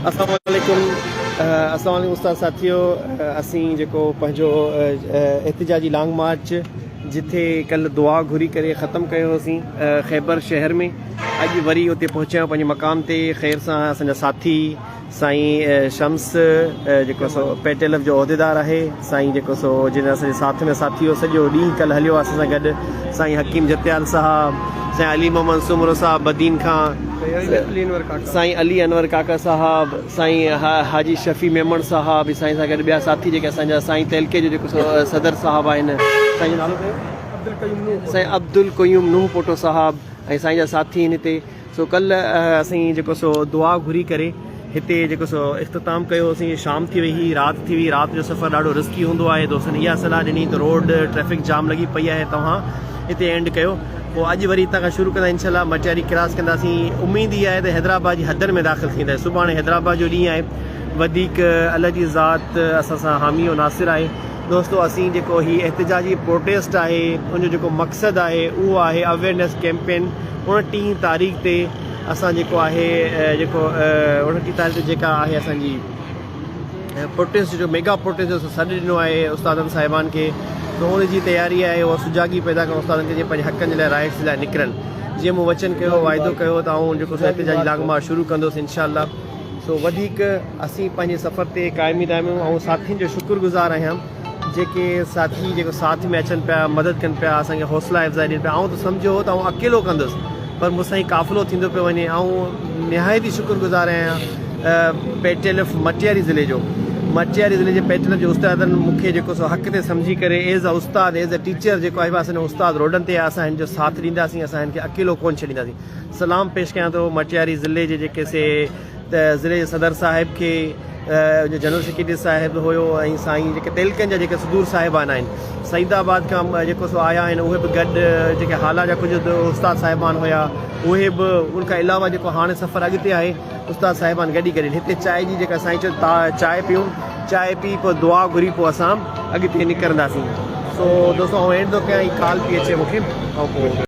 اسلام عليڪم اسلام عليڪم استاد ساٿيو اسين جيڪو پنهنجو احتجاجي لانگ مارچ جتي ڪل دعا گهري ڪري ختم ڪيو هوسين خيبر شهر ۾ اڄ وري اتي پهچيا پنهنجي مقام تي خير سان اسان جا ساٿي سائين شمس جيڪو پيٽيلف جو عهديدار آهي سائين جيڪو سو جنھن اسانجي ساٿ ۾ ساٿي ھو سڄو ڏينھن ڪلھ ھليو اسان سان گڏ سائين حڪيم جتيال صاحب سائين علي محمد سومرو صاحب بدين کان سائين علي انور ڪاڪا صاحب سائين حاجي شفيع ميمڻ صاحب سائين سان گڏ ٻيا ساٿي جيڪي اسان جا سائين تعلقي جو جيڪو سو صدر صاحب آھن سائين جو نالو ڪيو سائين عبدالقيوم نوح پوٽو صاحب ۽ سائين جا ساٿي ھن ھتي سو ڪلهه اسين جيڪو سو دعا گهري ڪري هتي جيڪو سو اختتام ڪيو هوسين شام ٿي وئي هي رات ٿي وئي رات جو سفر ڏاڍو رسڪي هوندو آهي دوستن اها صلاح ڏني ته روڊ ٽريفڪ جام لڳي پئي آهي توهان هتي اينڊ ڪيو پوء اڄ وري هتان کان شروع ڪندا انشاء الله مٽياري ڪراس ڪنداسين اميد هي آهي ته حيدرآباد جي حدن ۾ داخل ٿينداسين سڀاڻي حيدرآباد جو ڏينهن آهي وڌيڪ الله جي ذات اسان سان حامي و ناصر آهي دوستو اسين جيڪو هي احتجاجي پروٽيسٽ آهي ان جو جيڪو مقصد آهي اهو آهي اويرنيس ڪيمپين ان ٽين تاريخ تي اسان جيڪو آهي جيڪو ان ٽين تاريخ تي جيڪا آهي اسان جي پروٽيسٽ جو ميگا پروٽيسٽ جو سڏ ڏنو آهي استادن صاحبان کي تو ان جي تياري آهي اهو سجاڳي پيدا ڪرڻ استادن کي جي پنهنجي حقن جي لاء رائٽس لاء نڪرن جيئن مون وچن ڪيو واعدو ڪيو ته آئون جيڪو احتجاجي لانگ مارچ شروع ڪندوس انشاء الله سو وڌيڪ اسين پنهنجي سفر تي قائمي دائمي آهيون ۽ ساٿين جو شڪر گذار آهيان جيڪي ساٿي جيڪو ساٿ ۾ اچن پيا مدد ڪن پيا اسان کي حوصلا افزائي ڏين پيا آئون ته سمجهيو هو ته آئون اڪيلو ڪندس پر مون سان هي قافلو ٿيندو پيو وڃي آئون نهايت ئي شڪر گذار آهيان P T L F Matiari ضلعي جو مٽياري ضلعي جي پي ٽي ايل ايف جي استادن مون کي جيڪو سو حق تي سمجهي ڪري ايز ا استاد ايز ا ٽيچر جيڪو آهي اسان جو استاد روڊن تي آهي اسان هن جو ساٿ ڏينداسين اسان هن کي اڪيلو ڪونه ڇڏينداسين سلام پيش ڪيان ٿو مٽياري ضلعي جي جيڪي سي ته ضلعي جي صدر صاحب کي جنرل سيڪريٽري صاحب هيو ۽ سائين جيڪي تعلقن جا جيڪي صدور صاحبان آهن سعيد آباد کان جيڪو سو آيا آهن اهي به گڏ جيڪي هالا جا ڪجهه استاد صاحبان هيا اهي به ان کان علاوه جيڪو هاڻي سفر اڳتي آهي استاد صاحبان گڏي گڏي هتي چائي جي جيڪا سائين چيو چائي پيون چائي پي پوء دعا گهري پوء اسان اڳتي نڪرنداسين سو دوستو آئون اينڊ ٿو ڪيان هي ڪال پي اچي مونکي